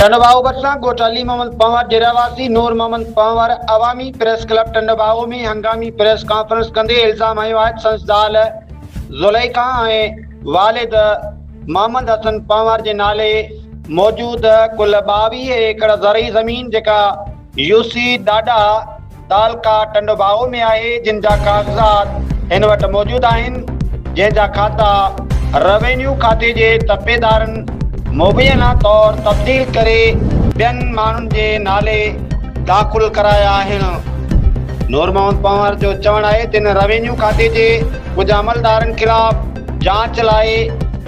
ٽنڊوباهو ڀرسان ڳوٺ علي محمد پنهور جي رهواسي نور محمد پنهور عوامي پريس ڪلب ٽنڊوباهو ۾ هنگامي پريس ڪانفرنس ڪندي الزام هنيو آهي ته سندس زال زليخا ۽ والد محمد حسن پنهور جي نالي موجود ڪل ٻاويهه ايڪڙ زرعي زمين جيڪا يوسي ڏاڏا تعلقه ٽنڊوڀائو ۾ آهي جن جا ڪاغذات هن وٽ موجود آهن جنهن جا کاتا روينيو کاتي جي ترپيدارن مبينا طور تبديل ڪري ٻين ماڻهن جي نالي داخل ڪرايا آهن نورمحمد پنهور جو چوڻ آهي ته هن روينيو کاتي جي ڪجهه عملدارن خلاف جاچ لاء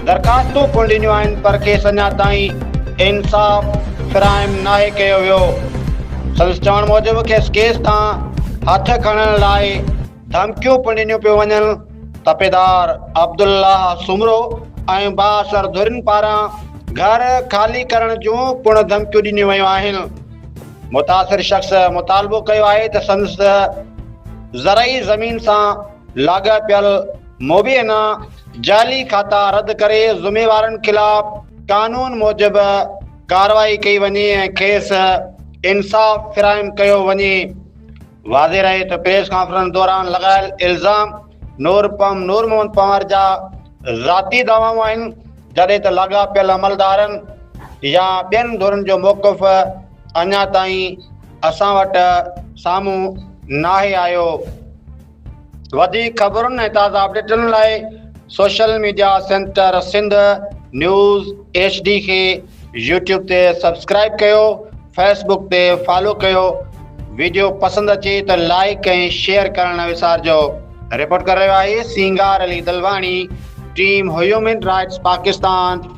درخواستون پڻ ڏنيون آهن پر کيس اڃا تائين انصاف فراهم ناهي ڪيو ويو. سندس چوڻ موجب کيس ڪيس تان هٿ کڻڻ لاء ڌمڪيون پڻ ڏنيون پيون وڃن. تپيدار عبدالله سومرو ۽ بااثر ڌرين پاران گهر خالي ڪرڻ جون پڻ ڌمڪيون ڏنيون ويون آهن. متاثر شخص مطالبو ڪيو آهي ته سندس زرعي زمين سان لاڳاپيل مبينا جعلي کاتا رد ڪري ذميوارن خلاف قانون موجب ڪارروائي ڪئي وڃي ۽ کيس انصاف فراهم ڪيو وڃي واضح رهي ته پريس ڪانفرنس دوران لڳايل الزام نور پم نور محمد پنهور جا ذاتي دعوائون آهن جڏهن ته لاڳاپيل عملدارن يا ٻين ڌرين جو موقف اڃا تائين اسان وٽ سامهون ناهي آيو. وڌيڪ خبرن ۽ تازا اپڊيٽن لاء social media center Sindh news H D کي يوٽيوب تي سبسڪرائيب ڪيو، فيس بڪ تي فالو ڪيو. ويڊيو پسند اچي ته لائيڪ ۽ شيئر ڪرڻ نه وسارجو. رپورٽ ڪري رهيو آهي Singar Ali Dilwani, team human rights Pakistan.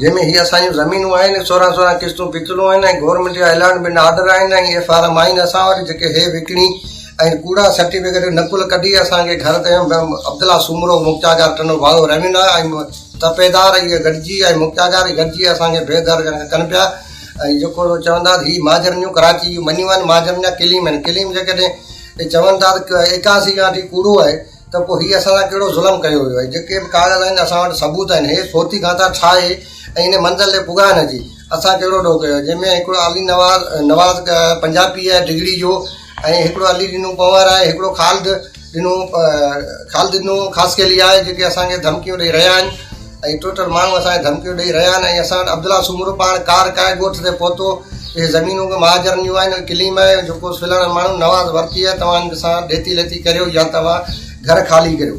جنهن ۾ هي اسان جون زمينون آهن ۽ سورهن سورهن قسطون پيتلون آهن ۽ گورنمينٽ جا اعلان به ناآرڊر آهن ۽ اهي فارم آهن اسان وٽ جيڪي هي وڪڻي ۽ ڪوڙا سرٽيفڪيٽ جو نقل ڪڍي اسان کي گهر تي عبدالله سومرو مختيارگار ٽنڊو ڀاڳو رهين آهي ۽ تپيدار اهي گڏجي ۽ مختيارگار اهي گڏجي اسان کي بي در ڪن پيا ۽ جيڪو چوندا هي مهاجرن جون ڪراچي جون مڃيون آهن مهاجرن جا ڪليم آهن ڪليم جيڪڏهن چون ٿا ته ايڪاسي کان وٺي ڪوڙو آهي ته پوء هي اسان سان ڪهڙو ظلم ڪيو ويو آهي. جيڪي به ڪاغذ آهن اسان وٽ ثبوت آهن. هي صوتي گانٿا ڇا آهي ۽ ان منزل تي پڳائڻ جي اسان ڪهڙو ڏوهه ڪيو آهي. جنهن ۾ هڪڙو علي نواز نواز پنجاپي آهي ڊگهڙي جو ۽ هڪڙو علي ڏنو پنهور آهي هڪڙو خالد ڏنو خالد ڏنو خاصخيلي آهي جيڪي اسان کي ڌمڪيون ڏئي رهيا آهن. ۽ ٽوٽل ماڻهو اسان کي ڌمڪيون ڏئي رهيا آهن ۽ اسان وٽ عبدالله سومرو پاڻ ڪار ڪرائي ڳوٺ تي پهتو اهي زمينون به مهاجرن جون آهن ڪليم آهي جو ڪو سلهاڙن ماڻهن نواز ورتي آهي توهان سان ڏيتي ليتي ڪريو يا توهان گهر خالي ڪريو